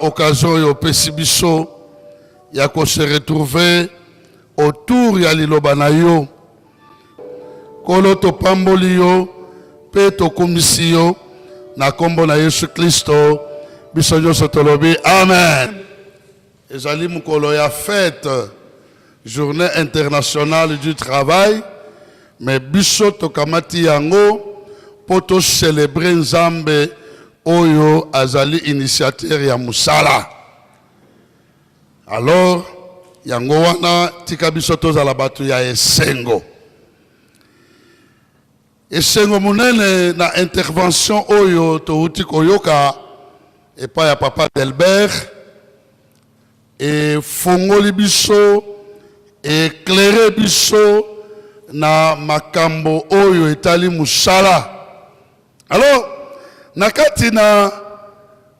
occasion oyo opesi biso ya ko se retrouver autour ya liloba na yo nkolo topamboli yo mpe tokumisi yo na nkombo na yesu kristo biso nyonso tolobi amen Ezali mokolo ya fete, journee internationale du travail, me biso tokamati yango mpo to celebre Nzambe oyo azali initiateur ya mosala. Alors yango wana tika biso tozala bato ya esengo. Esengo monene na intervention oyo towuti koyoka epai ya Papa Delbert efongoli biso eclaire biso na makambo oyo etali mosala alors na kati na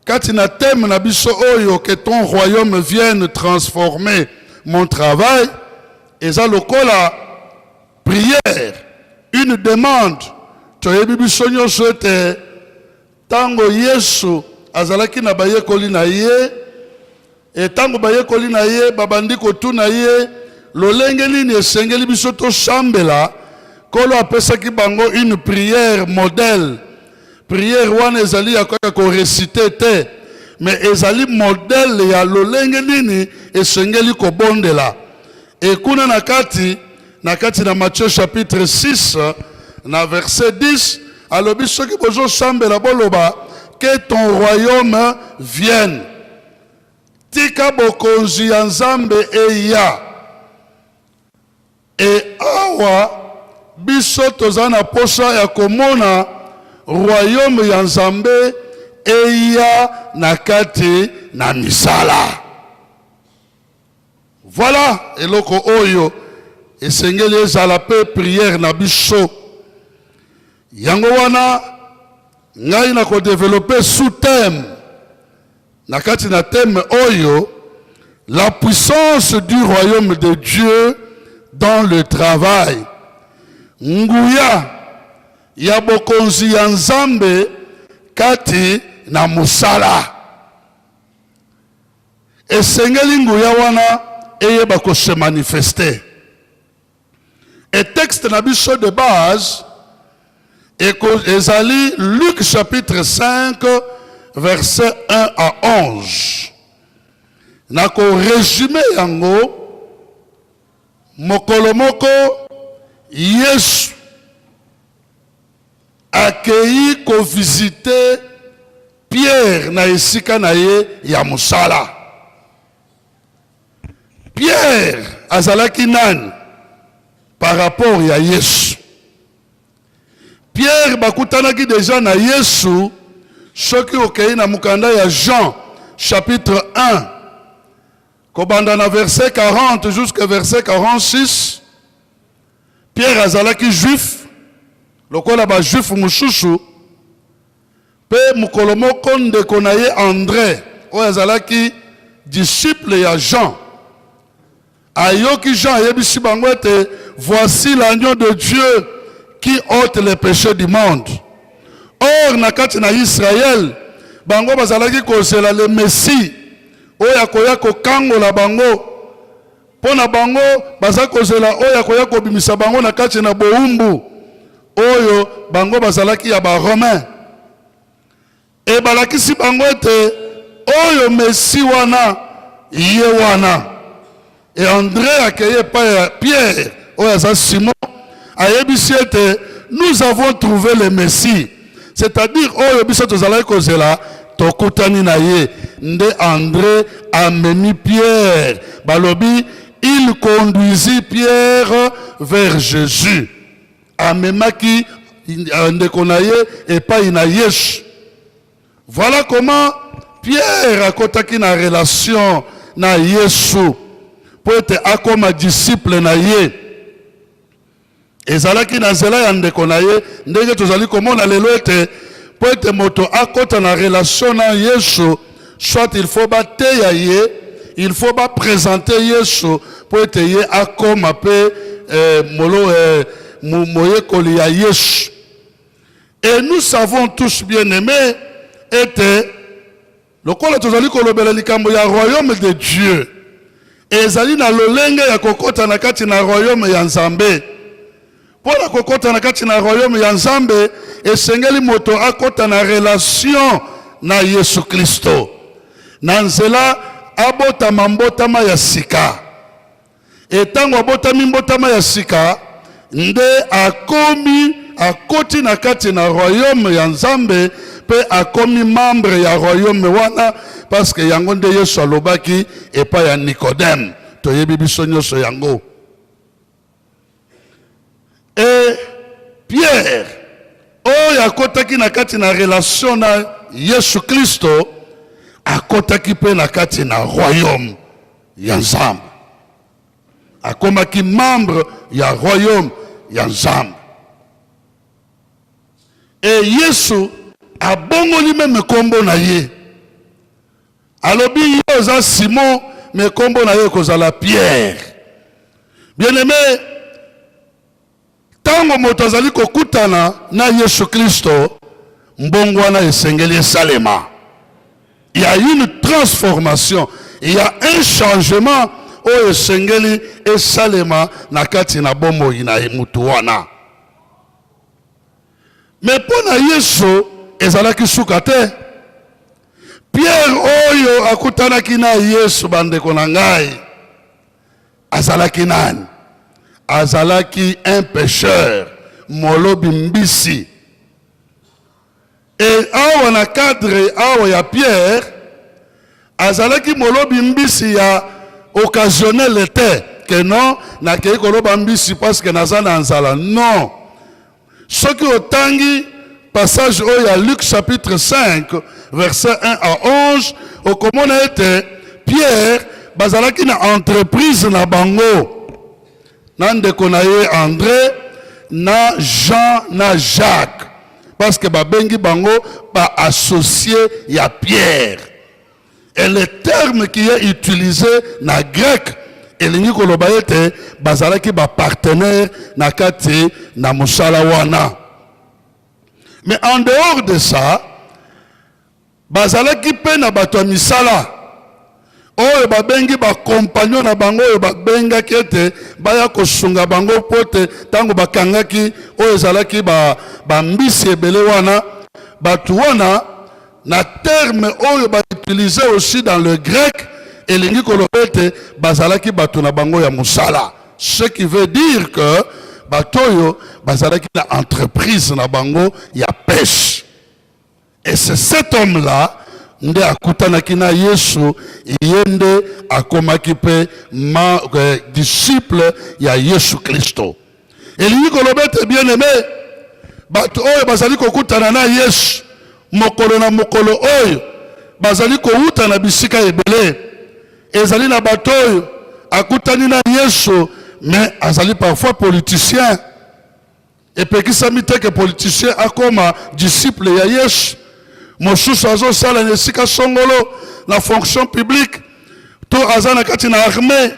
kati na thème na biso oyo que ton royaume vienne transformer mon travail eza lokola Prière, une demande. Toyebi biso nyonso ete ntango Yesu azalaki na bayekoli na ye, e, ntango bayekoli na ye babandi kotuna ye lolenge nini esengeli biso tosambela, Nkolo apesaki bango une prière modèle. Prière wana ezali ya kaka koresite te, mais ezali modèle ya lolenge nini esengeli kobondela. Et kuna na kati, na kati na Matthieu chapitre 6, na verset 10, alobi soki bozo sambela boloba que ton royaume vienne. Tika bokonzi ya Nzambe eya. Et awa biso toza na posa ya komona royaume ya Nzambe eya na kati na misala. Voilà eloko oyo esengeli ezala pe prière na biso. Yango wana ngai na ko développer sous thème na kati na thème oyo la puissance du royaume de Dieu dans le travail. Nguya ya bokonzi ya Nzambe kati na musala. Esengeli nguya wana eyeba ko se manifester. Et texte na biso de base ezali Luc chapitre 5 verset 1 à 11. Na ko resume yango mokolo moko Yesu Akeyi ko visiter Pierre na esika na ye ya mosala. Pierre azalaki nani par rapport ya Yesu? Pierre bakutanaki deja na Yesu soki okeyi na mokanda ya Jean chapitre 1 Kobanda na verset 40 jusqu'à verset 46, Pierre azalaki juif lokola ba juif mususu pe mokolo moko ndeko na ye Andre oyo azalaki disciple ya Jean ayoki Jean ayebisi bango ete voici l'agneau de Dieu qui ôte les péchés du monde. Or na kati na Israël bango bazalaki kozela le Messie oyo akoya kokangola bango mpo na bango baza kozela oyo akoya kobimisa bango na kati na bowumbu oyo bango bazalaki ya baromain ebalakisi bango ete oyo mesi wana ye wana E Andre akei epai ya Pierre oyo aza Simon, ayebisi ete nous avons trouvé le Messie, c'est-à-dire oyo biso tozalaki kozela tokutani na ye. Nde Andre amemi Pierre, balobi il conduisit Pierre vers Jésus, amemaki euh, ndeko na ye epai na Yesu. Voilà comment Pierre akotaki na relation na Yesu mpo ete akoma disciple na ye. Ezalaki na nzela ya ndeko na ye, ndenge tozali komona lelo ete mpo ete moto akota na relation na Yesu, soit il faut bateya ye, il faut bapresente Yesu mpo ete ye akoma mpe eh, molo eh, moyekoli ya Yesu. Et nous savons tous bien aimés ete lokola tozali kolobela likambo ya royaume de Dieu ezali na lolenge ya kokota na kati na royaume ya Nzambe. Mpo na kokota na kati na royaume ya Nzambe esengeli moto akota na relation na Yesu Kristo na nzela abotama mbotama ya sika. E tango abotami mbotama ya sika nde akomi akoti na kati na royaume ya Nzambe mpe akomi membre ya royaume wana parce que yango nde Yesu alobaki epai ya Nicodème. Toyebi biso nyonso yango. Et Pierre, oyo akotaki na kati na relation na Yesu Klisto, akotaki mpe na kati na royaume ya Nzambe. Akomaki membre ya royaume ya Nzambe. Et Yesu abongoli meme nkombo na ye. Alobi yo oza Simon mais kombo na yo ekozala Pierre. Bien aimé, tango moto azali kokutana na Yesu Kristo, mbongwana esengeli esalema. Il y a une transformation, il y a un changement oyo esengeli esalema na kati na bomoi na motu wana me mpo na yesu ezalaki suka te Pierre oyo akutanaki na Yesu, bandeko na ngai, azalaki nani? Azalaki un pêcheur, molobi mbisi. Et awa na cadre awa ya Pierre, azalaki molobi mbisi ya occasionnel te que non nakei koloba mbisi parce que naza na nzala non soki otangi passage oyo ya Luc chapitre 5 verset 1 à 11 okomona ete Pierre bazalaki na entreprise na bango na ndeko na ye Andre na Jean na Jacques parce que babengi bango ba associé ya Pierre Et le terme qui est utilisé na grec elingi koloba ete bazalaki ba partenaire na kati na mosala wana. Mais en dehors de ça, bazalaki mpe na bato ya misala oyo babengi bakompanio na bango oyo babengaki ete baya kosunga bango mpo ete ntango bakangaki oyo ezalaki bambisi ba ebele wana bato wana na terme oyo ba utilise aussi dans le grec elingi koloba ete bazalaki bato na bango ya mosala ce qui veut dire que bato oyo bazalaki na entreprise na bango ya peshe et c'est cet homme là nde akutanaki na yesu ye nde akomaki mpe eh, disciple ya yesu kristo Elingi koloba ete bien-aime, bato oyo bazali kokutana na Yesu mokolo na mokolo oyo bazali kowuta na bisika ebele. Ezali na bato oyo akutani na Yesu mais azali parfois politicien. Epekisami te ke politicien akoma disciple ya Yesu. Mosusu azosala na esika songolo na fonction publique to aza na kati na armée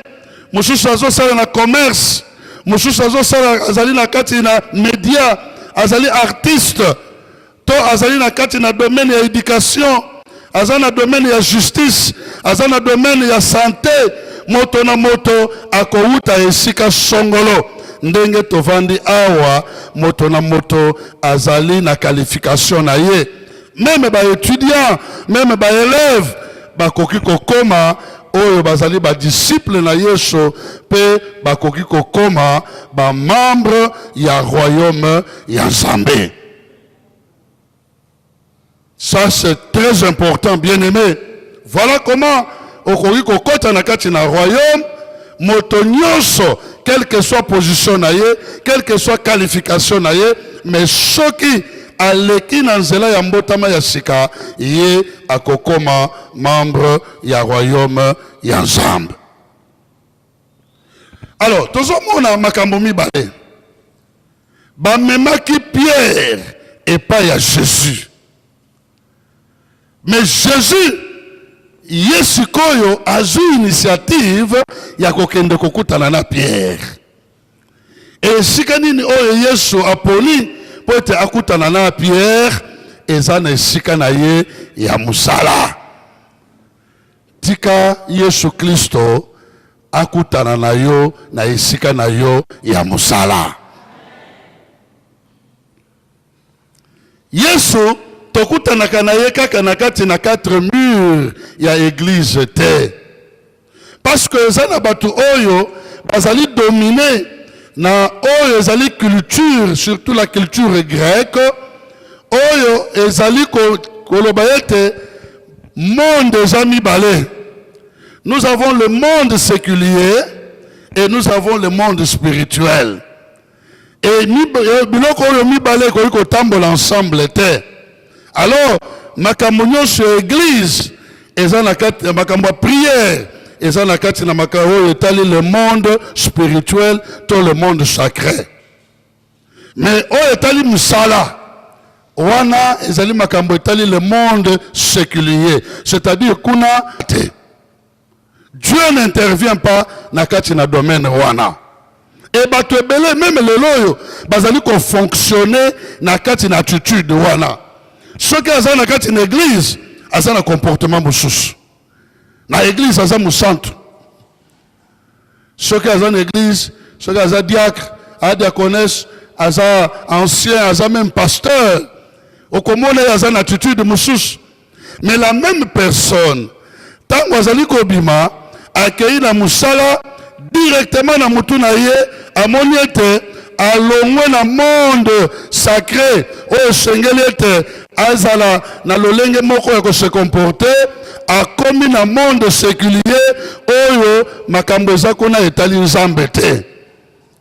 mosusu azosala na commerce mosusu azosala azali na kati na media azali artiste to azali na kati na domaine ya éducation aza na domaine ya justice aza na domaine ya santé moto na moto akowuta esika songolo ndenge tovandi awa moto na moto azali na qualification na ye meme ba étudiants meme ba élèves bakoki kokoma oyo bazali badisiple na yesu mpe bakoki kokoma bamembre ya royaume ya nzambe ça c'est très important bien aimé Voilà comment okoki kokota na kati na royaume moto nyonso quelle que soit position na ye quelle que soit qualification na ye mais soki aleki na nzela ya mbotama ya sika ye akokoma membre ya royaume ya nzambe alors tozomona makambo mibale bamemaki pierre epai ya jésus Mais Jésus ye sikoyo azwi initiative ya kokende kokutana na Pierre. Esika nini oyo Yesu aponi mpo ete akutana na Pierre eza na esika na ye ya mosala. Tika Yesu Klisto akutana na yo na esika na yo ya mosala. Yesu tokutanaka na ye kaka na kati na quatre mur ya eglise te parce que eza na bato oyo bazali domine na oyo ezali culture surtout la culture grecque oyo ezali koloba ete monde eza mibale nous avons le monde séculier et nous avons le monde spirituel Et euh, biloko oyo mibale ekoki kotambola ensemble te. Alors makambo nyonso ya eglise eza na kati ya makambo ya prière eza na kati na makambo oyo etali le monde spirituel to le monde sacré. Mais oyo etali mosala wana ezali makambo etali le monde séculier, c'est-à-dire kuna te. Dieu n'intervient pas na kati na domaine wana e bato ebele meme lelo oyo bazali kofonctionne na kati na attitude wana soki aza na kati na eglize aza na comportement mosusu na eglize aza mosantu soki aza na eglise soki aza diacre a diaconesse aza ancien aza même pasteur okomona ye aza na attitude mosusu mais la même personne ntango azali kobima akei na mosala directement na motu na ye amoni ete alongwe na monde sacré oyo esengeli ete azala na lolenge moko ya kose comporte akomi na monde séculier oyo makambo eza kuna etali nzambe te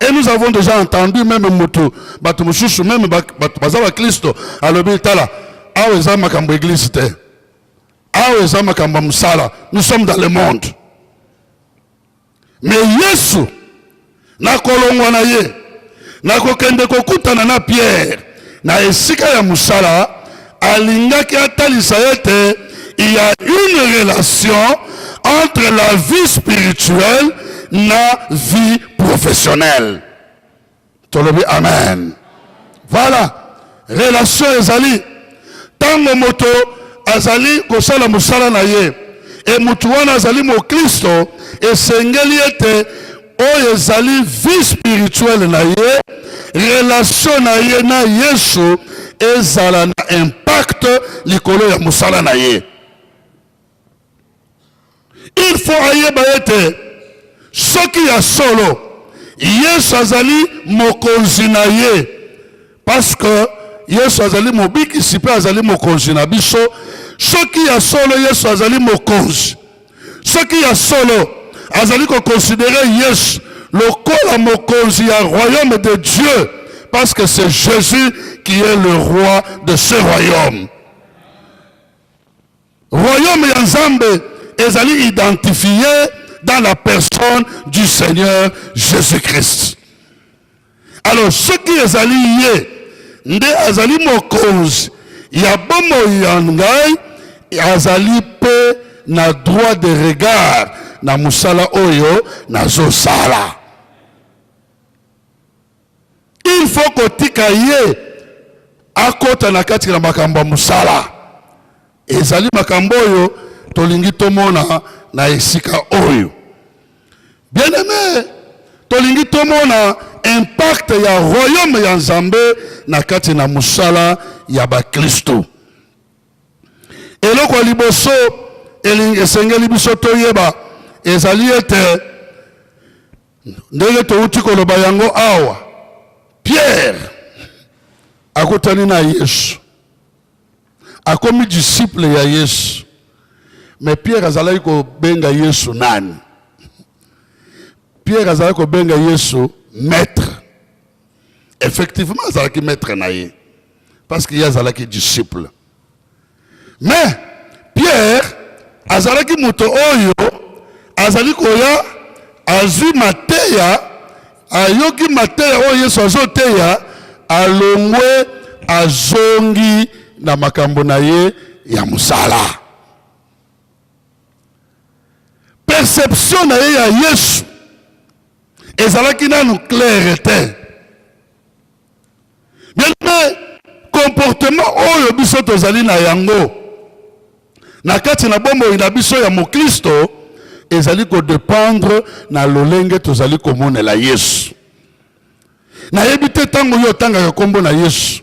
et nous avons déjà entendu meme motu bato mosusu meme bato baza baklisto alobi tala awa eza makambo eglise te awa eza makambo ya mosala nous sommes dans le monde Me Yesu na kolongwa na ye na kokende kokutana na Pierre na esika ya mosala, alingaki atalisa ete il y a une relation entre la vie spirituelle na vie professionnelle. tolobi amen voilà relation ezali ntango moto azali kosala mosala na ye e moto wana azali moklisto esengeli ete oyo ezali vie spirituelle na ye relation na ye na yesu ezala na impact likolo ya mosala na ye Il faut ayeba ete soki ya solo Yesu azali mokonzi na ye parce que Yesu azali mobikisi mpe azali mokonzi na biso. Soki ya solo Yesu azali mokonzi, soki ya solo azali kokonsidere Yesu lokola mokonzi ya royaume de Dieu parce que c'est Jésus qui est le roi de ce royaume. Royaume ya Nzambe ezali identifié dans la personne du Seigneur Jésus-Christ. Alors soki ezali ye nde azali mokonzi ya bomoi ya ngai, azali mpe na droit de regard na mosala oyo nazosala. Il faut kotika ye akota na kati na makambo ya mosala. Ezali makambo oyo tolingi tomona na esika oyo. Bien aime, tolingi tomona impact ya royaume ya Nzambe na kati na mosala ya baklisto. Eloko ya liboso esengeli biso toyeba ezali ete Ndenge touti koloba yango awa, Pierre akutani na Yesu, akomi disciple ya Yesu. Me Pierre azalaki kobenga Yesu nani? Pierre azalaki kobenga Yesu maître. Effectivement, azalaki maître na ye parce que ye azalaki disciple. Mais Pierre azalaki moto oyo azali koya azwi mateya, ayoki mateya oyo Yesu azoteya, alongwe azongi na makambo na ye ya mosala. Perception na ye ya Yesu ezalaki nanu claire te. Bien-aimé, comportement oyo biso tozali na yango na kati na bomoi na biso ya moklisto ezali kodependre na lolenge tozali komonela Yesu. Nayebi te ntango yo otangaka nkombo na Yesu,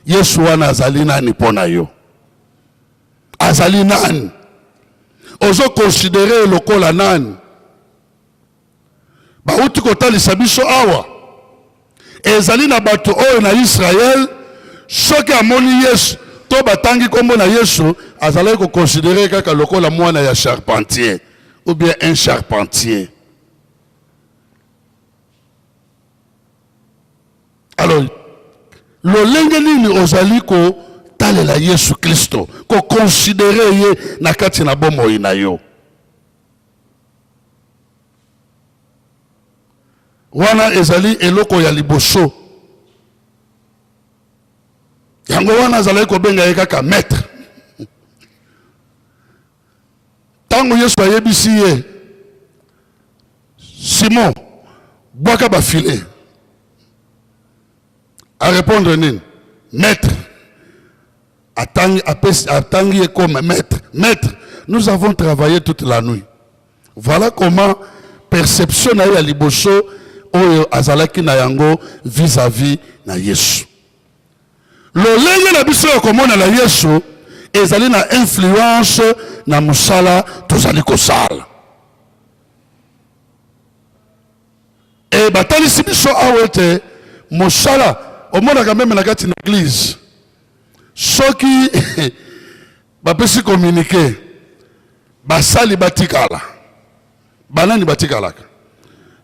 Yesu wana azali nani mpo na yo? Azali nani? Ozo considere lokola nani? bauti kotalisa biso awa ezali na bato oyo na Israël soki amoni Yesu to batangi kombo na Yesu azalaki kokonsidere kaka lokola mwana ya charpentier ou bien un charpentier alors lolenge nini ozali kotalela Yesu Kristo kokonsidere ye na kati na bomoi na yo wana ezali eloko ya liboso yango wana azalaki kobenga ye kaka maître ntango yesu ayebisi ye simon bwaka bafile A répondre nini? Maître atangi apesi atangi ye comme maître. Maître, nous avons travaillé toute la nuit. Voilà comment perception na ye ya liboso oyo azalaki na yango vis-à-vis -vis na Yesu. Lolenge na biso ya komona na Yesu ezali na influence na mosala tozali kosala. e batalisi biso awa ete mosala omonaka meme na kati na eglize soki bapesi kominike basali batikala banani batikalaka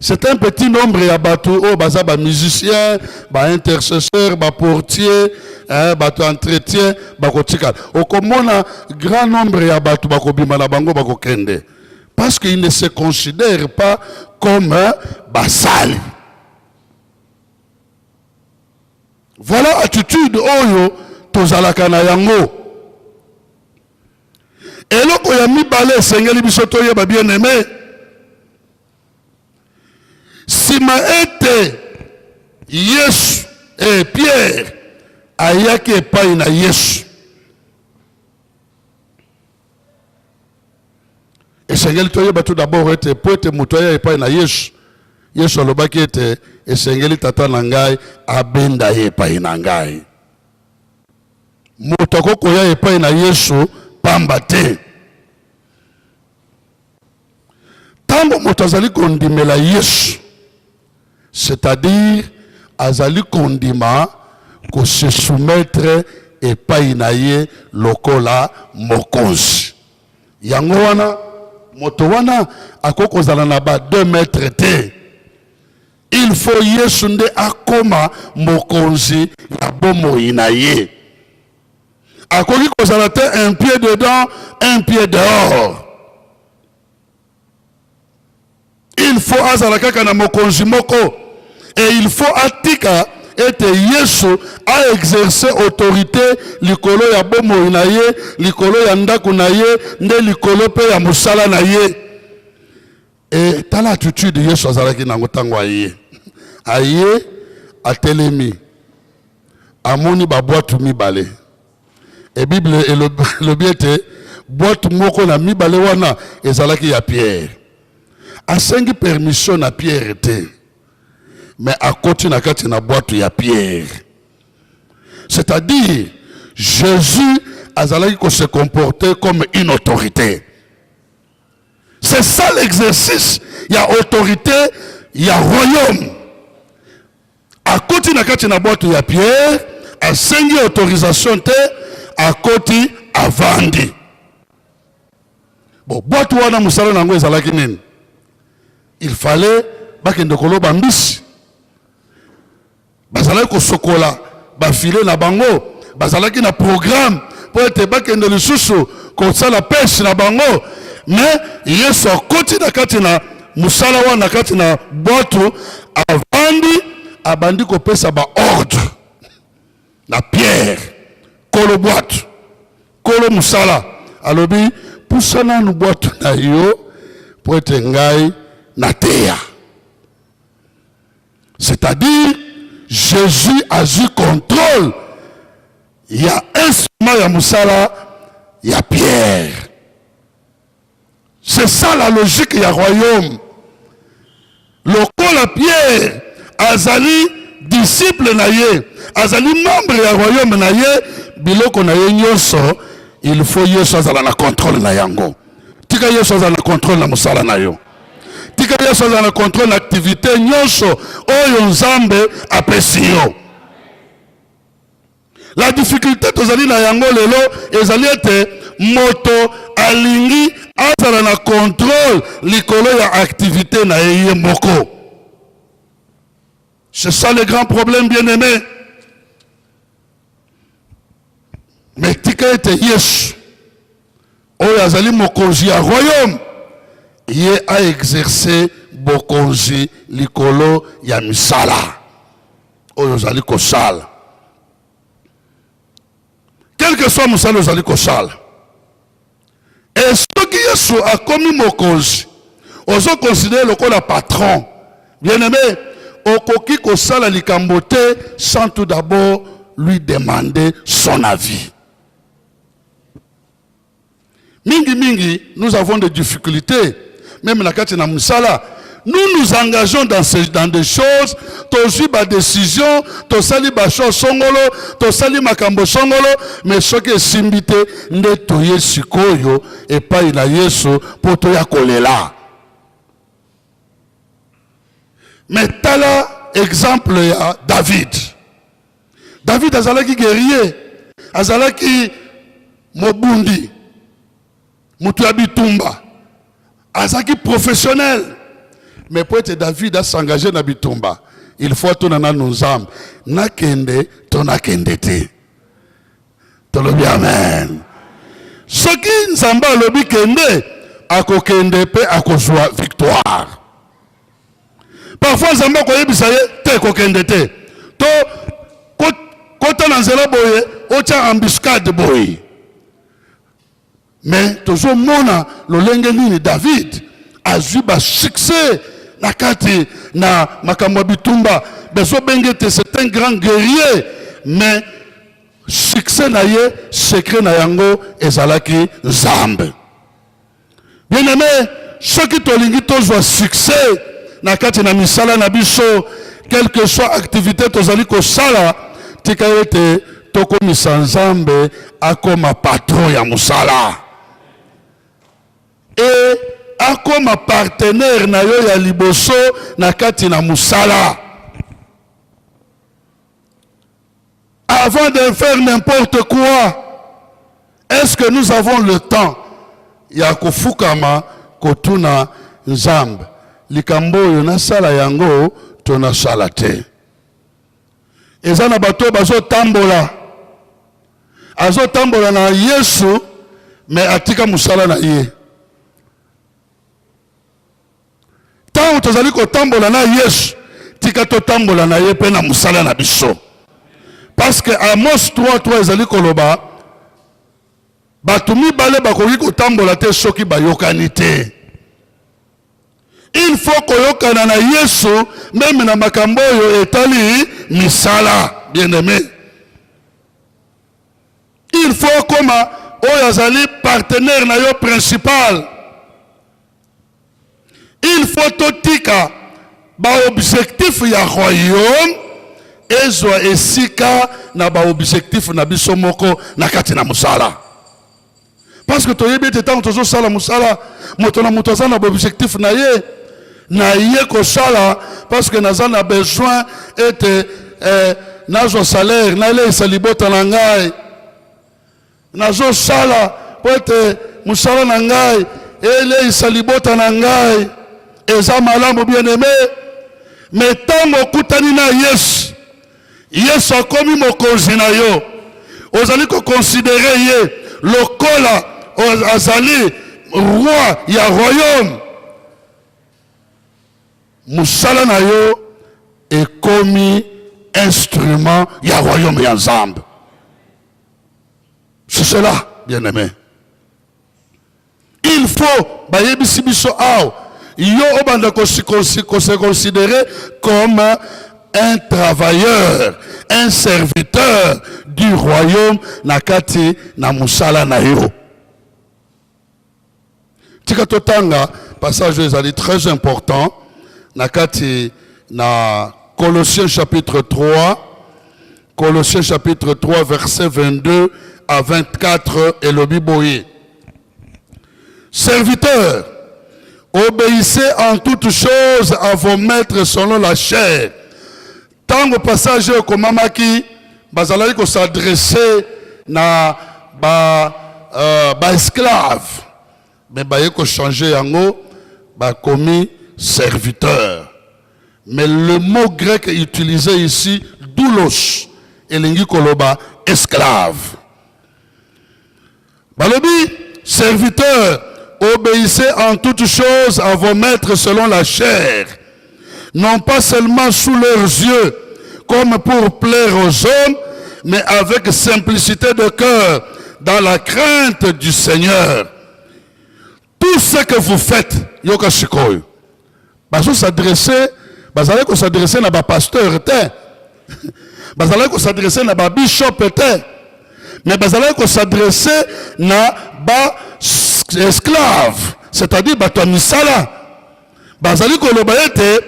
c'est un petit nombre ya bato oyo baza bamusicien baintercesseur baportier eh, bato ya entretien bakotikala okomona grand nombre ya bato bakobima na bango bakokende Parce qu'ils ne se considèrent pas comme basali. Voilà attitude oyo tozalaka na yango. Eloko ya mibale esengeli biso toyeba bien aimé. Sima ete Yesu et Pierre ayaki epai na Yesu. esengeli toyeba tout d'abord ete mpo ete moto aya epai na yesu yesu alobaki ete esengeli tata na ngai abenda ye epai na ngai moto akoki koya epai na yesu pamba te ntango moto azali kondimela yesu c'est-à-dire azali kondima ko se soumettre epai na ye lokola mokonzi yango wana moto wana akoki kozala na ba deux mètre te il faut yesu nde akoma mokonzi ya bomoi na ye akoki kozala te un pied dedans un pied dehors il faut azala kaka na mokonzi moko et il faut atika ete yesu aexerce autorité likolo ya bomoi na ye likolo ya ndako na ye nde likolo mpe ya mosala na ye E tala attitude Yesu azalaki nango ntango aye aye atelemi amoni babwatu mibale e bible elobi ete bwatu moko na mibale wana ezalaki ya pierre asengi permission na pierre te me akoti na kati na bwatu ya pierre c'est-à-dire jésus azalaki kose comporter comme une autorité C'est ça l'exercice ya autorité ya royaume. Akoti na kati na boîte ya Pierre, asengi autorisation te, akoti avandi. Bon, boîte wana musala nango ezalaki nini? Il fallait bakende koloba mbisi. bazalaki kosokola bafile na bango bazalaki na programme mpo ete bakende lisusu kosala peshe na bango me yesu akoti na kati na mosala wana kati na bwatu avandi abandi kopesa baordre na pierre kolo bwatu kolo mosala alobi pusa nanu bwatu na yo mpo ete ngai nateya C'est-à-dire Jésus azwi contrôle ya instrument ya mosala ya Pierre. C'est ça la logique ya royaume. Lokola Pierre azali disciple na ye, azali membre ya royaume na ye, biloko na ye nyonso il faut Yesu azala na contrôle na yango. Tika Yesu azala na contrôle na mosala na yo. tika yesu azala na controle na activité nyonso oyo nzambe apesi yo la difficulté tozali na yango lelo ezali ete moto alingi azala na controle likolo ya activité na ye ye moko c'est ça le grand problème bien aimé Mais tika ete Yesu oyo azali mokonzi ya royaume ye a exercer bokonzi likolo ya misala oyo ozali kosala quelque soit mosala ozali kosala Et soki Yesu akomi mokonzi, ozo considérer lokola patron. Bien aimé, okoki kosala likambo te sans tout d'abord lui demander son avis. Mingi mingi, nous avons des difficultés meme na kati na mosala nous nous engageons dans, ce, dans des choses tozwi badécision tosali bashor songolo tosali makambo songolo mais soki esimbi te nde toye sikoyo epai na yesu mpo toya kolela me tala exemple ya david david azalaki guerrier azalaki mobundi moto ya bitumba azalaki professionnel mais mpo ete david asengage na bitumba il faut atuna nanu nzambe nakende to nakende te tolobi amen soki nzambe alobi kende akokende mpe akozwa victoire parfois nzambe akoyebisa ye te kokende te to kota na nzela boye otya embuscade boye Mais tozo mona lolenge nini David azui ba succès na kati na makambo ya bitumba bezo benge te c'est un grand guerrier mais succès na ye secret na yango ezalaki Nzambe. Bien aime, soki tolingi tozwa succès na kati na misala na biso, quelque soit activité tozali kosala, tika ete tokomisa Nzambe akoma patron ya mosala e akoma partenaire na yo ya liboso na kati na mosala. Avant de faire n'importe quoi, est-ce que nous avons le temps ya kofukama kotuna Nzambe likambo oyo nasala yango to nasala te? Eza na bato bazotambola, azotambola na Yesu me atika mosala na ye. ntango tozali kotambola na yesu tika totambola na ye mpe na mosala na biso parce que amos 33 ezali koloba bato mibale bakoki kotambola te soki bayokani te il faut koyokana na yesu meme na makambo oyo etali misala bien aime Il faut okoma oyo azali partenaire na yo principal. Il faut totika baobjectif ya royaume ezwa esika na baobjectif na biso moko na kati na mosala. parce que toyebi ete ntango tozosala mosala moto na moto aza na baobjectif na ye naye kosala parce que naza na besoin ete eh, nazwa salaire naleisa libota na ngai nazosala mpo ete mosala na ngai eleisa libota na ngai eza malamu bien aime me ntango okutani na yesu Yesu akomi mokonzi na yo, ozali kokonsidere ye lokola azali roi ya royaume. Mosala na yo ekomi instrument ya royaume ya Nzambe. C'est cela, bien-aimé. Il faut bayebisi biso awa yo obanda ko se considérer comme un travailleur, un serviteur du royaume na kati na musala na yo. Tika totanga passage ezali très important na kati na Colossiens chapitre 3 Colossiens chapitre 3 verset 22 à 24 elobi boye Serviteurs, obéissez en toutes choses à vos maîtres selon la chair. Tango passage oyo ekomamaki bazalaki kosadresse na ba, euh, ba esclaves Mais baye ko changer yango ba komi serviteur. Mais le mot grec utilisé ici doulos elingi koloba esclave. Balobi serviteur obéissez en toutes choses à vos maîtres selon la chair. non pas seulement sous leurs yeux, comme pour plaire aux hommes, mais avec simplicité de cœur, dans la crainte du Seigneur. Tout ce que vous faites, yoka shikoy, bazo s'adresser, bazalaki ko s'adresser na ba pasteur te, bazalaki ko s'adresser na ba bishop te, mais bazalaki ko s'adresser na ba esclaves, c'est-à-dire bato ya misala bazali koloba ete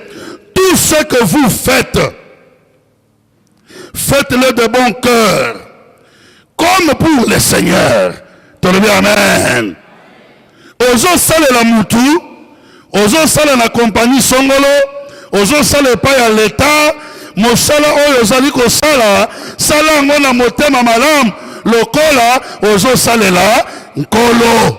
tout ce que vous faites faites-le de bon cœur comme pour le seigneur tolobi amen ozosalela mutu ozosala na kompani songolo ozosala epai ya leta mosala oyo ozali kosala sala yango na motema malamu lokola ozosalela nkolo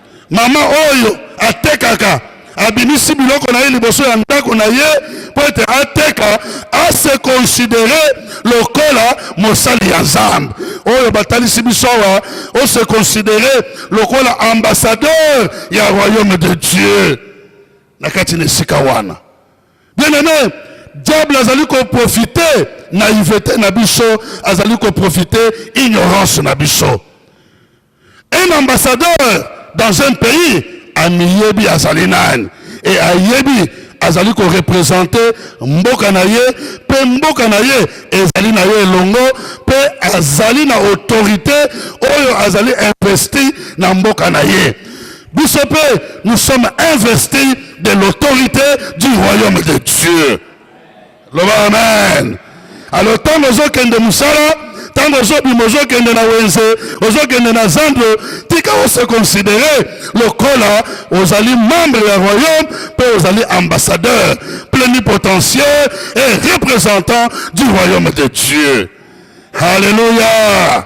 Mama oyo atekaka abimisi biloko na ye liboso ya ndako na ye mpo ete ateka ase konsidere lokola mosali ya nzambe oyo batalisi biso awa ose konsidere lokola ambassadeur ya royaume de dieu na kati na esika wana bien aime diable azali koprofite naivete na biso azali koprofite ignorance na biso Un ambassadeur dans un pays amiyebi azali nani e ayebi azali korepresente mboka na ye mpe mboka na ye ezali na ye elongo mpe azali na autorité oyo azali investi na mboka na ye biso mpe nous sommes investis de l'autorité du royaume de dieu loba amen alo ntango ozokende mosala ntango ozobima ozokende na wenze ozokende na zando tika ose considere lokola ozali membre ya royaume mpe ozali ambassadeur plenipotentiaire et représentant du royaume de dieu halleluya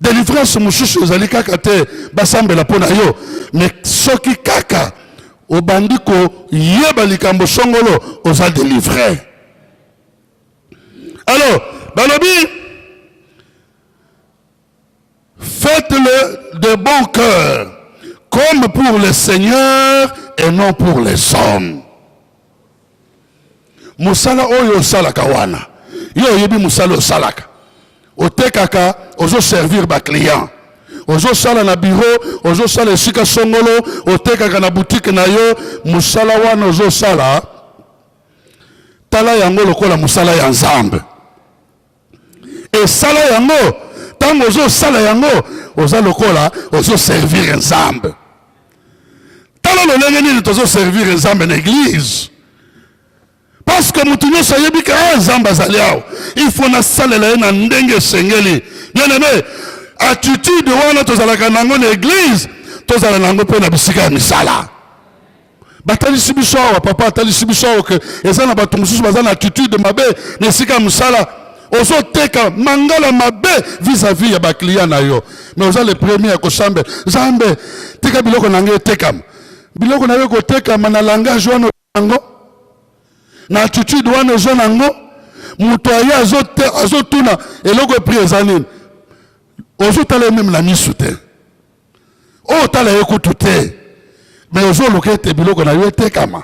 Delivrance mosusu ezali kaka te basambela mpo na yo, mais soki kaka obandi koyeba likambo songolo oza delivre. Alors balobi faites-le de bon cœur comme pour le Seigneur et non pour les hommes. mosala oyo osalaka wana yo oyebi mosala osalaka otekaka ozoservir baclient ozosala na biro ozosala esika songolo otekaka na butike na yo mosala wana ozosala tala yango lokola mosala ya nzambe esala yango ntango ozosala yango oza lokola ozoservire nzambe tala lolenge nini tozoservire nzambe na eglize parceke moto nyonso ayebi ke ah, nzambe azali awa il faut nasalela ye na ndenge esengeli bien aime attitude wana tozalaka na yango na eglize tozala na yango mpe na bisika ya misala batalisi biso awa papa atalisi biso awa ke eza na bato mosusu baza na attitude mabe na esika ya mosala ozoteka mangala mabe vis-à-vis -vis ya bacliya na yo mais oza le premier ya kosambe zambe tika biloko na ngai etekama biloko na yo ekotekama na langage wana yango na attitude wana oza nango moto aye azotuna eloko epri eza nini ozotala ye meme na misu te oyo tala ye kutu te me ozoluka ete biloko na yo etekama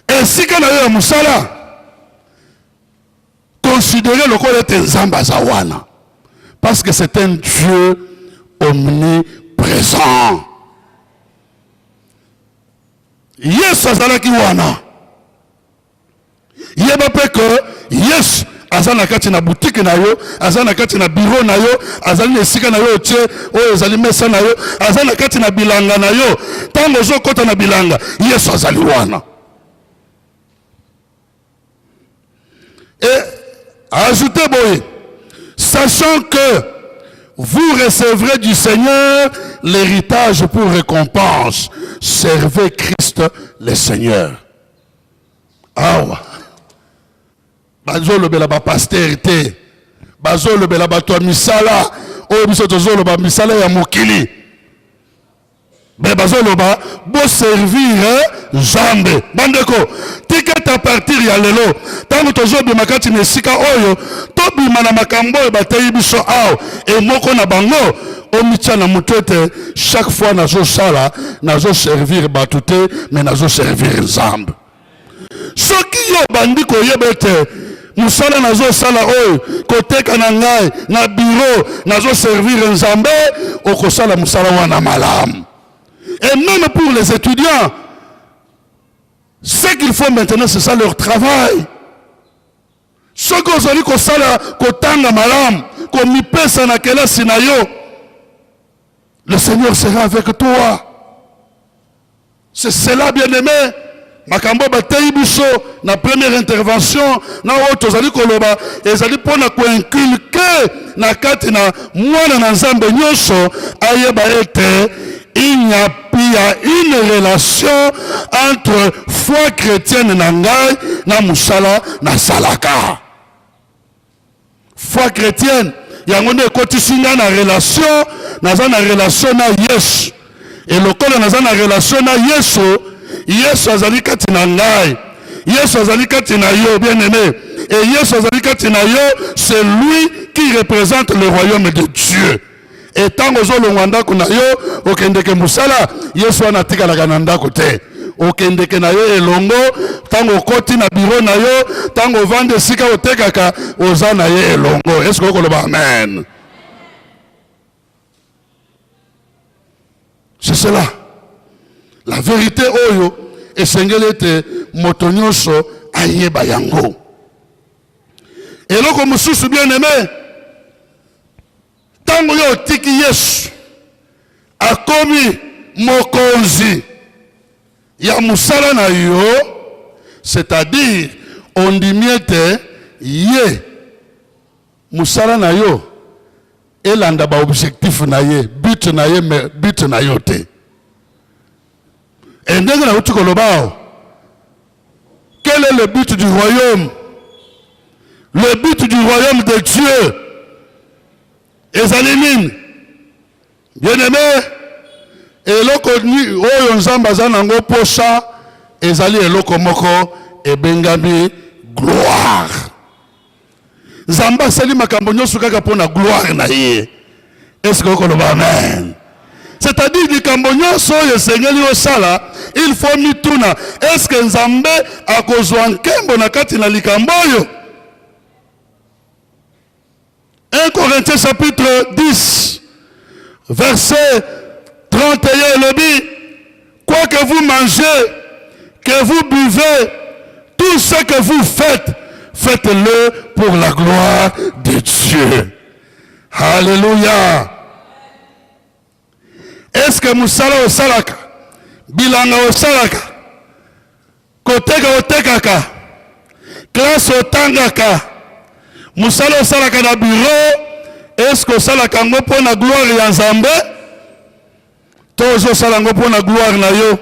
esika na yo ya mosala konsidere lokola ete nzambe aza wana parce que c'est un dieu omniprésent yesu azalaki wana yeba mpe ke yesu aza na kati na butike na yo aza na kati na biro na yo azali na esika na yo otie oyo ezali mesa na yo aza na kati na bilanga na yo ntango ozokɔta na bilanga yesu azali wana e ajoute boye sachant que vous recevrez du seigneur l'héritage pour récompense servez christ le seigneur awa bazolobela bapastere te bazolobela bato ya misala oyo biso tozoloba misala ya mokili me bazoloba boservire nzambe bandeko tikete a partir ya lelo ntango tozobima kati na esika oyo tobima na makambo oyo bateyi biso awa emoko na bango omitya na moto ete chaque fois nazosala nazoservir bato te me nazoservir nzambe soki yo obandi koyeba ete mosala nazosala oyo koteka na ngai na biro nazoservir nzambe okosala mosala wana malamu et même pour les étudiants ce qu'il faut maintenant c'est ça leur travail Soki ozali kosala kotanga malamu, komipesa na kelasi na yo, le Seigneur sera avec toi. C'est cela, bien-aimé. makambo bateyi biso na première intervention na oyo tozali koloba ezali mpo na koinculke na kati na mwana na nzambe nyonso ayeba ete il n'y a il y a une relation entre foi chrétienne na ngai na mosala nasalaka foi chrétienne yango nde ekotisi ngai na relation naza na relation na yesu e lokola naza na relation na yesu yesu azali kati na ngai yesu azali kati na yo bien aimé e yesu azali kati na yo c'est lui qui représente le royaume de dieu e ntango ozolongwa ndako na yo okendeke mosala yesu wana atikalaka na ndako te okendeke na yo elongo ntango okoti na biro na yo ntango ovandi esika otekaka oza na ye elongo eske okoloba amen c'est cela la verite oyo esengeli ete moto nyonso ayeba yango Eloko mosusu bien aime, ntango yo otiki Yesu akomi mokonzi ya mosala na yo, c'est-à-dire ondimi ete ye mosala na yo elanda baobjectif na ye but na ye me but na yo te. E ndenge nauti koloba awa Quel est le but du royaume? Le but du royaume de Dieu ezali nini? Bien-aime, eloko oyo Nzambe aza nango posa ezali eloko moko ebengami gloire. nzambe asali makambo nyonso kaka mpo na gloire na ye eske okoloba amen c'est-à-dire likambo nyonso oyo esengeli osala il faut mituna eske nzambe akozwa nkembo na kati na likambo oyo 1 corinthiens chapitre 10 verset 31 elobi Quoi que vous mangez, que vous buvez, tout ce que vous faites, faites-le pour la gloire de Dieu. Alléluia. Est-ce que musala osalaka, bilanga osalaka, koteka otekaka, classe otangaka, musala osalaka na bureau, est-ce que osalaka yango mpo na gloire ya Nzambe? to ozosala yango mpo na gloire na yo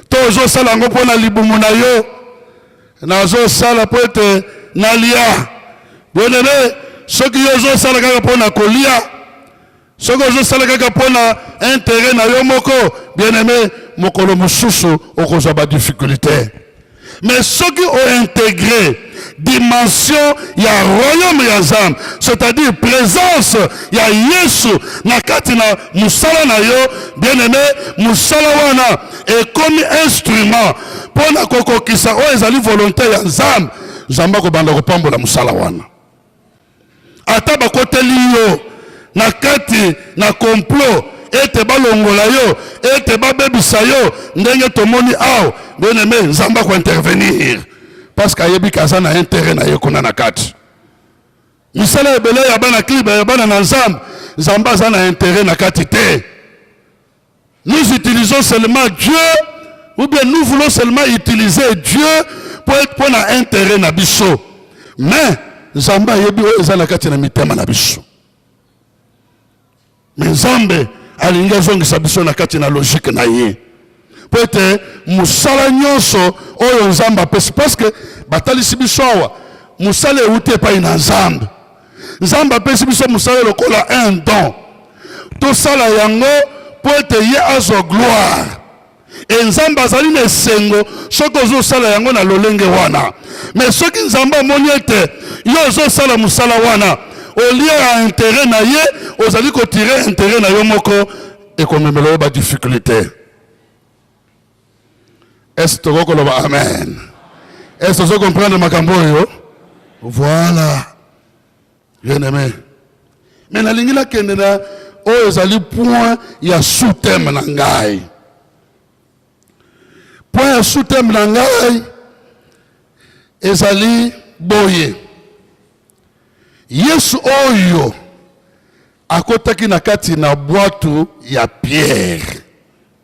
to ozosala yango mpo na libumu na yo nazosala mpo ete nalia bwenele soki yo ozosala kaka mpo na kolia soki ozosala kaka mpo na intere na yo moko bien aime mokolo mosusu okozwa badiffikulté Mais soki o integrer dimension ya royaume ya Nzambe, c'est-à-dire présence ya Yesu na kati na musala na yo, bien aimé, musala wana ekomi instrument mpo na kokokisa oyo ezali volonté ya Nzambe. Nzambe akobanda kopambola musala wana. ata bakoteli yo na kati na complot ete balongola yo ete babebisa yo ndenge tomoni awa bien aime nzambe akointervenir parce que ayebi kaza na intérêt na ye kuna na kati misala ebele ya bana kliba ya bana na nzambe nzambe aza na intérêt na kati te Nous utilisons seulement Dieu ou bien nous voulons seulement utiliser Dieu pour pour na intérêt na biso. Mais Nzambe ayebi oyo eza na kati na mitema na biso. Mais Nzambe alingi azongisa biso na kati na logique na ye mpo ete mosala nyonso oyo nzambe apesi parceke batalisi biso awa mosala euti epai na nzambe nzambe apesi biso mosala lokola un don tosala yango mpo ete ye azwa gloire e nzambe azali na esengo soki ozosala yango na lolenge wana me soki nzambe amoni ete yo ozosala mosala wana olie ya intere na ye ozali kotire intere na yo moko ekomemela yo badiffikulté Est-ce que tokoki koloba amen? Est-ce que ozo comprendre makambo oyo? Voilà. Bien aimé. Mais nalingi nakende na oyo ezali point ya sous-thème na ngai. Point ya sous-thème na ngai ezali boye. Yesu oyo akotaki na kati na bwatu ya Pierre.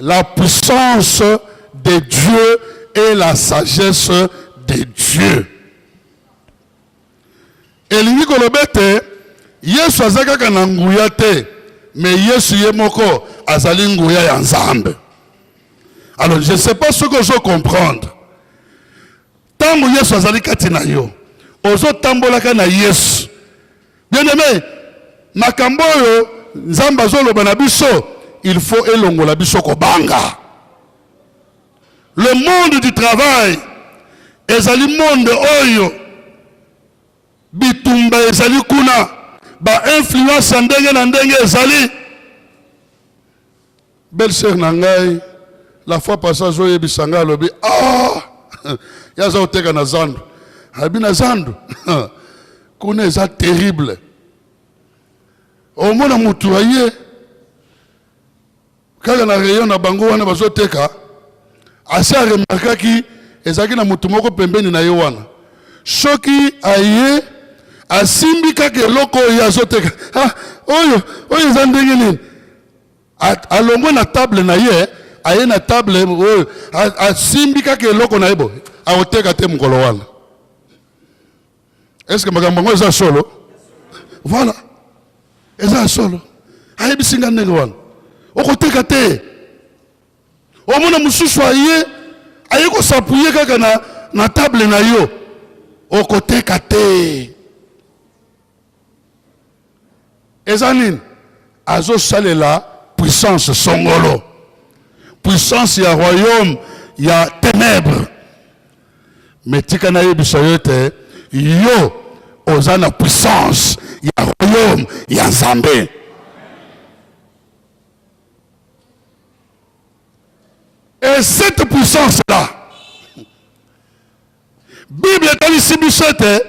La puissance de Dieu et la sagesse de Dieu. elingi koloba ete yesu aza kaka na nguya te me yesu ye moko azali nguya ya nzambe alors je sais pas soki ozo comprendre Tango Yesu azali kati na yo, ozo tambolaka na Yesu. Bien aimé, makambo oyo Nzambe azoloba na biso, il faut elongola biso kobanga. Le monde du travail ezali monde oyo bitumba ezali kuna, ba influence ndenge na ndenge ezali Belle sœur na ngai la fois passée azo yebisa ngai alobi ah ya aza koteka na zandu abi na zandu kuna eza terrible omona mutu aye kaka na rayon na bango wana bazoteka asi aremarkaki ezalaki na moto moko pembeni na ye wana soki aye asimbi kaka eloko oyo azoteka ah, oyo oyo eza ndenge nini alongwe na table na ye aye na table oyo asimbi kaka eloko na ye boye akoteka te mokolo wana eske makambo yango eza solo voilà eza solo ayebisi nga ndenge wana okoteka te omona mosusu aye aye kosapuye kaka na, na table na yo okoteka te eza nini azosalela puissance songolo puissance ya royaume ya ténèbre me tika nayebisa yo ete yo oza na puissance ya royaume ya nzambe et cette puissance là Biblia etalisi biso ete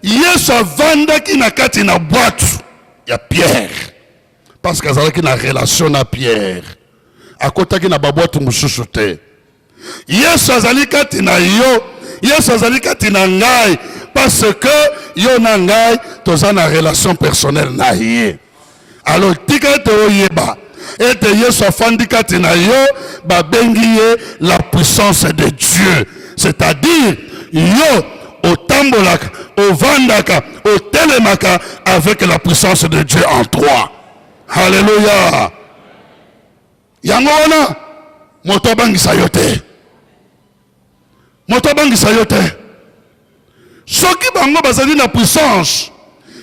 Yesu avandaki na kati na bwatu ya Pierre parce que azalaki na relation na Pierre, akotaki na babwatu mosusu te. Yesu azali kati na yo, Yesu azali kati na ngai parce que yo na ngai toza na relation personnelle na ye. Alors tika ete oyeba ete Yesu afandi kati na yo, babengi ye la puissance de Dieu. C'est-à-dire yo otambolaka, ovandaka, otelemaka avec la puissance de Dieu en toi. Alléluia. yango wana moto abangisa yo te moto abangisa yo te soki bango bazali na puissance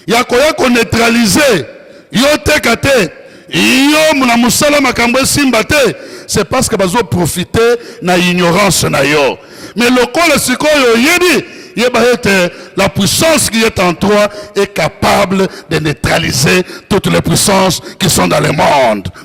ya koya koneutralize yo teka te yo na mosala makambo esimba te c'est parce que bazoprofite na ignorance na yo mais lokola sikoyo oyebi yeba ete la puissance qui est en toi est capable de neutraliser toutes les puissances qui sont dans le monde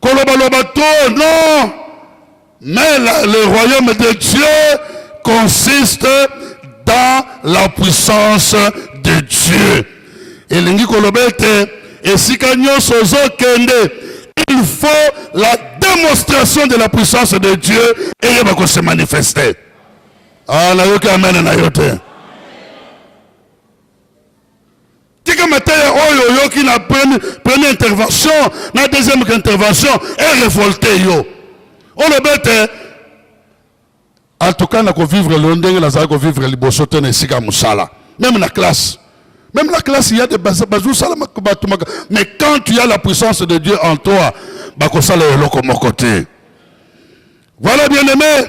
Koloba loba to non mais la, le royaume de Dieu consiste dans la puissance de Dieu. Elingi koloba ete esika nyonso ozokende il faut la démonstration de la puissance de Dieu eyeba ko se manifester. Ah, nayoki amen na yo te. tika mateya oyo oyoki na première intervention na deuxième intervention erevolte yo olobi ete en tout cas nakovivre lelo ndenge nazali kovivre liboso te na esika ya mosala meme na classe Même la classe, il y a des bazou Mais quand tu as la puissance de Dieu en toi, bakosala eloko moko te. Voilà bien aimé.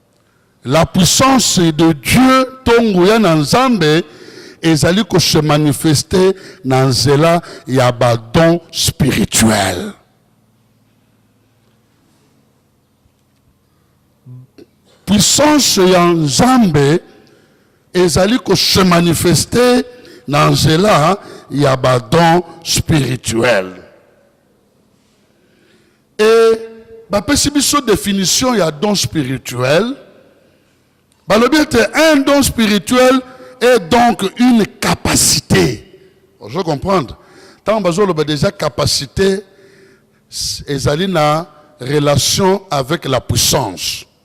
La puissance de Dieu to nguya na Nzambe ezali ko se manifester na nzela ya ba dons spirituels. puissance ya nzambe ezali kose manifeste na nzela ya badon spirituel Et bapesi biso definition ya don spirituel balobi ete un don spirituel est donc une capacité ozo comprendre ntango bazoloba déjà capacité ezali na relation avec la puissance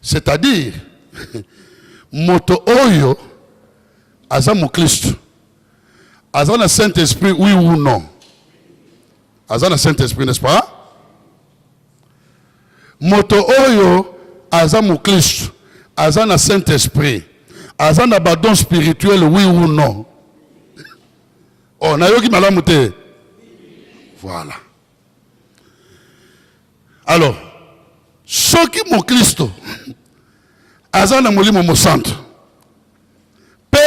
C'est-à-dire, moto oyo aza moklisto aza na Saint-Esprit, oui ou non? Aza na Saint-Esprit, n'est-ce pas? Moto oyo aza moklisto aza na Saint-Esprit, aza na badon spirituel, oui ou non? Oh, nayoki malamu te. Voilà. Alors, soki moklisto aza na molimo mosantu mpe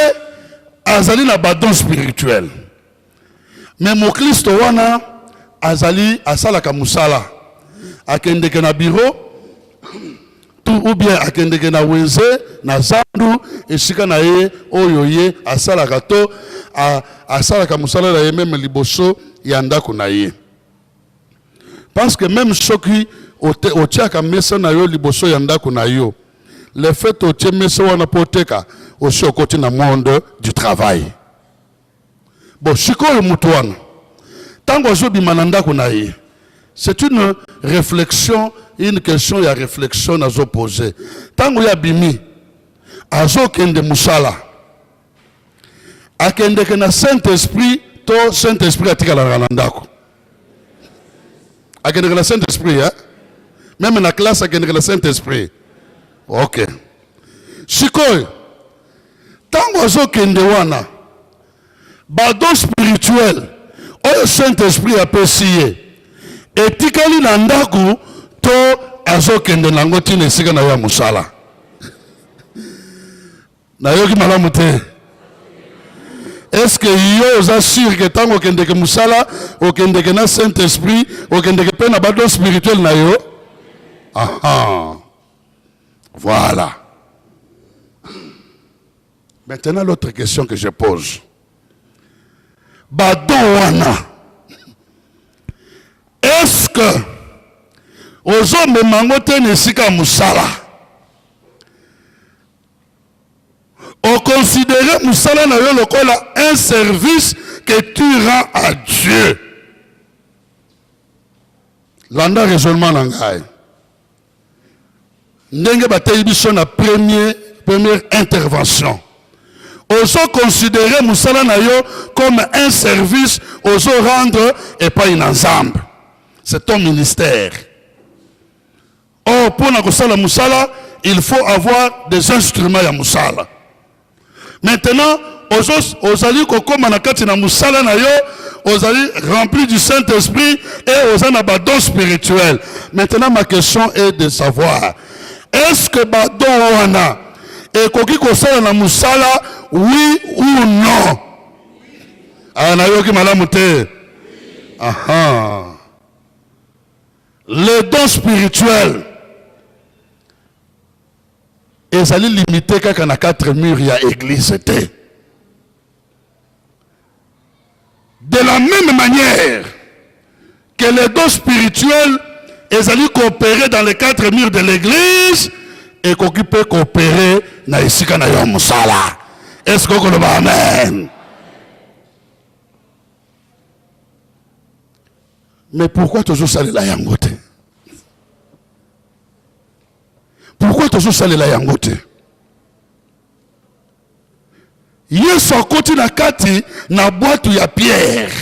azali na badon spirituel me moklisto wana azali asalaka mosala akendeke na biro tu ubie akendeke na wenze na zandu esika na ye oyo ye asalaka to asalaka mosala na ye meme liboso ya ndako na ye parce que meme soki otiaka mesa na yo liboso ya ndako na yo le fait otie mesa wana mpo oteka osi okoti na monde du travail Bon, sikoyo moto wana ntango azobima na ndako na ye c'est une réflexion une question ya réflexion nazo pose ntango ye abimi azokende mosala akendeke na saint esprit to saint esprit atikalaka na ndako akendeke na saint esprit eh? meme na classe akendeke na saint esprit ok sikoyo ntango azokende wana badon spirituel oyo saint esprit apesi ye etikali na ndako to azokende na yango ntina esika na yo ya mosala nayoki malamu te eske yo oza sur ke ntango okendeke mosala okendeke na saint esprit okendeke mpe na badon spirituel na yo aha Voilà. Maintenant, l'autre question que je pose. Badouana, est-ce que ozomema te na esika mosala okonsidere mosala na yo lokola un service que tu rends à dieu landa raisonnement na ngai ndenge bateyi biso na premier première intervention ozo considere mosala na yo comme un service ozo rendre epai na nzambe c'est ton ministère or mpo na kosala mosala il faut avoir des instruments ya mosala Maintenant, ozali kokoma na kati na musala na yo, ozali rempli du Saint-Esprit et oza na ba dons spirituels. Maintenant, ma question est de savoir, est-ce que ba dons wana ekoki kosala na musala oui ou non? Ah, nayoki malamu te. Aha. Les dons spirituels ezali limite kaka na quatre mur ya eglise te de la même manière que les dons spirituels ezali koopere dans les quatre murs de l'église ekoki mpe koopere na esika na yo ya mosala eske okoloba amen mais pourquoi tozosalela yango te Pourquoi tozo salela yango te? Yesu akoti na kati na bwatu ya Pierre,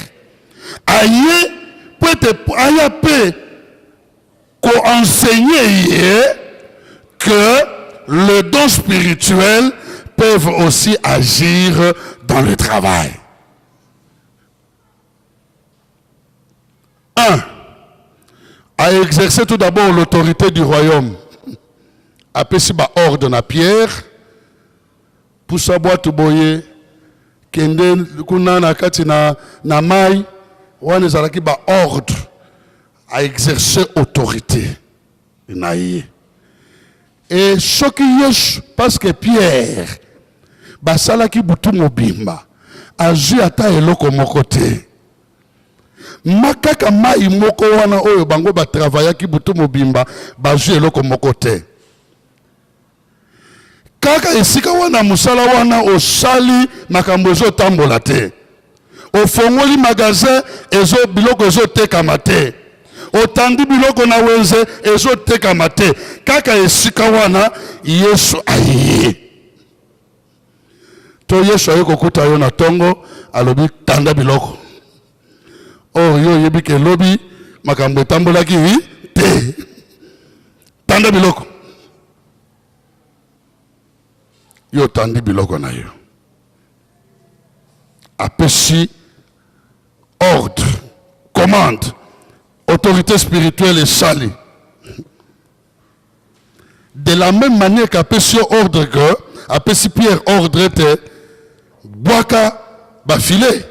aye mpo ete aya mpe koenseigne ye que le don spirituel peuvent aussi agir dans le travail. Un, a exercer tout d'abord l'autorité du royaume. apesi baordre na pierre pusa bwato boye kende kuna na kati na, na mai wana ezalaki baordre a exerce autorité na ye e soki yesu parceke pierre basalaki butu mobimba azwi ata eloko moko te ma kaka mai moko wana oyo bango batravayaki butu mobimba bazwi eloko moko te kaka esika wana mosala wana osali makambo ezotambola te ofongoli magasin ezo biloko ezotekama te otandi biloko na wenze ezotekama te kaka esika wana yesu ayeye to yesu aye kokuta yo na ntongo alobi tanda biloko or yo oyebi ke lobi makambo etambolaki te tanda biloko yo otandi biloko na yo apesi ordre commande autorité spirituelle esali De la meme manière qu'apesi yo ordre que apesi Pierre ordre ete bwaka bafilet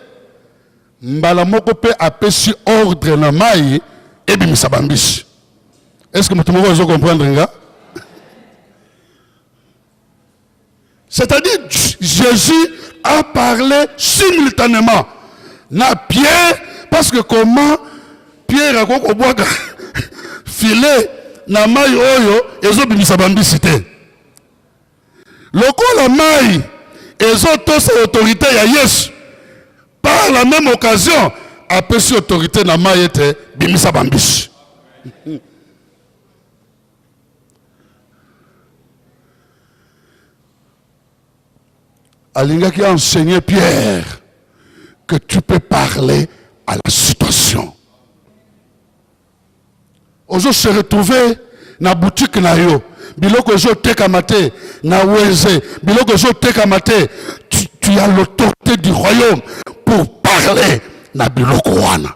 mbala moko mpe apesi ordre na mai ebimisa bambisi. Est-ce que moto moko azo comprendre nga? C'est-à-dire, Jésus a parlé simultanément. Na Pierre, parce que comment Pierre a kobwaka filet na mai oyo ezobimisa bambisi te lokola mai ezotosa autorité ya yesu par la même occasion apesi autorité na mai ete bimisa bambisi alingaki enseigner Pierre que tu peux parler à la situation. Ozo se retrouver na boutique na yo, biloko ezo teka mate, na weze, biloko ezo teka mate, tu, tu as l'autorité du royaume pour parler na biloko wana.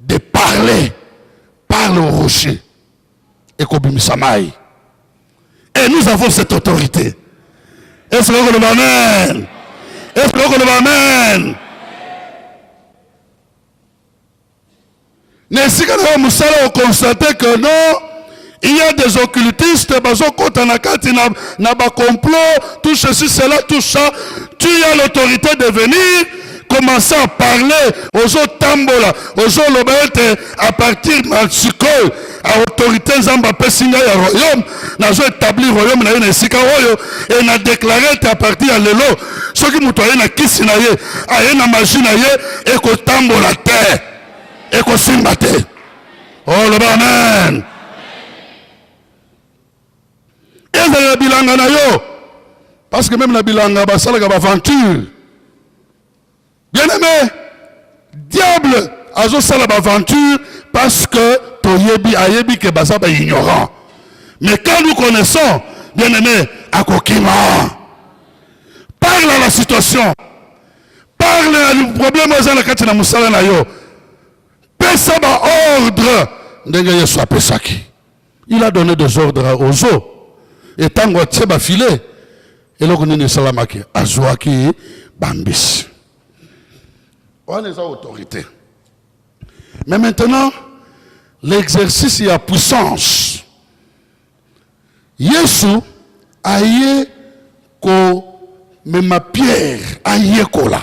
de parler parle au rocher ekobimisa mai et nous avons cette autorité est-ce que okoloba amen est-ce que okoloba amen na esika na yo mosala okonstate que non Il y a des occultistes, bazokota na kati na, na ba complot, tout ceci, cela, tout ça. Tu as l'autorité de venir, commencer à parler, ozo tambola, ozo loba ete à partir na sikoyo, a autorité nzambe apesi ngai ya royaume, nazo établir royaume na ye na esika oyo, et na déclarer ete à partir ya lelo, soki moto aye na kisi na ye, aye na magie na ye, ekotambola te, ekosimba te. Oh, loba amen. Ezala na bilanga na yo, parce que meme na bilanga basalaka baventure. Bien aimé, diable azosala baventure parce que toyebi ayebi ke baza ba ignorant. Mais quand nous connaissons, bien aimé, akokima. Parle à la situation. Parle à le problème oza na kati na musala na yo. pesa ba ordre ndenge yesu apesaki il a donné des ordres aux eaux e ntango atie bafile eloko nini esalamaki azwaki bambisi wana eza autorité mais maintenant l'exercice ya puissance yesu aye komema pierre ayekola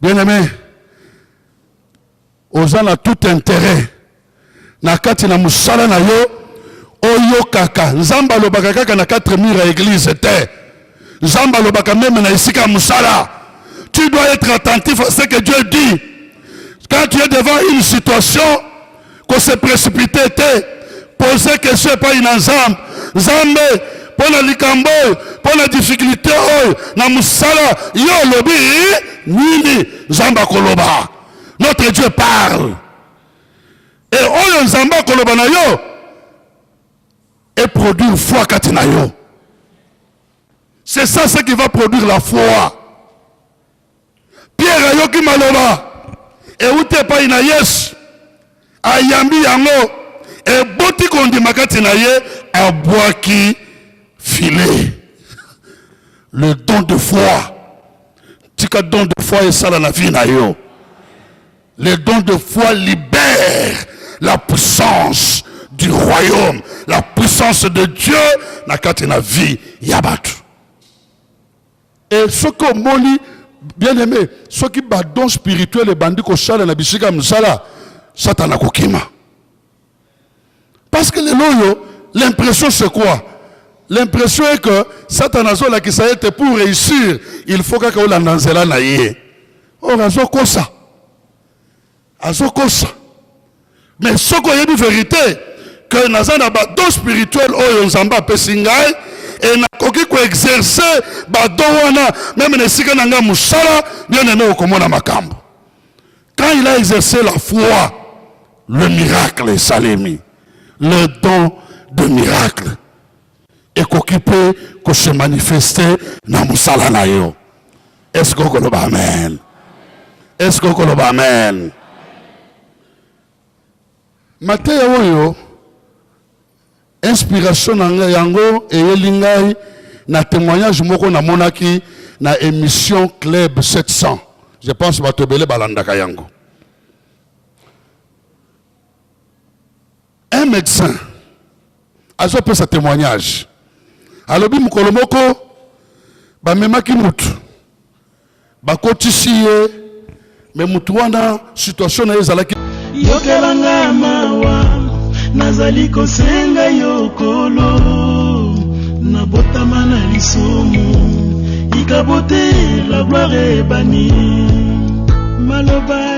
Bien aime, oza na tout intérêt na kati na mosala na yo oyokaka. Nzambe alobaka kaka na quatre mur ya eglise te. Nzambe alobaka meme na esika ya mosala. Tu dois être attentif à ce que Dieu dit. Quand tu es devant une situation, ko se précipiter te poser question epai na nzambe nzambe mpo na likambo oyo mpo na difficulté oyo na mosala yo olobi nini nzambe akoloba notre dieu parle e oyo nzambe akoloba na yo eproduire foi kati na yo c'est ça ce qui va produire la foi Pierre ayoki maloba euti epai na Yesu, ayambi yango, eboti kondima kati na ye, abwaki filet. Le don de foi. Tika don de foi esala na vie na yo. Le don de foi libère la puissance du royaume, la puissance de Dieu na kati na vie ya batu. Et ce que moni bien aimé, ce qui ba don spirituel et bandi ko sala na bisika msala, satana ko kima. Parce que les loyo, l'impression c'est quoi? L'impression est que satana zo la kisayete pour réussir, il faut kaka olanda nzela na ye. Or azo kosa. azokosa mais soki oyebi verite que naza na badon spirituel oyo nzambe apesi ngai e nakoki koexerce badon wana meme na esika na ngai mosala bien aime okomona makambo quand il a exercé la foi le miracle esalemi le don de miracle ekoki mpe kose manifeste na mosala na yo eske okoloba amen eske okoloba amen mateya oyo inspiration na ngai yango eyeli ngai na témoignage moko namonaki na émission club 700 je pense bato ebele balandaka yango Un médecin azopesa témoignage alobi mokolo moko bamemaki mutu bakotisi ye me mutu wana situation na ye ezalaki yokela nga mawa nazali kosenga yo kolo nabotama na lisumu ikabote la gloire ebani maloba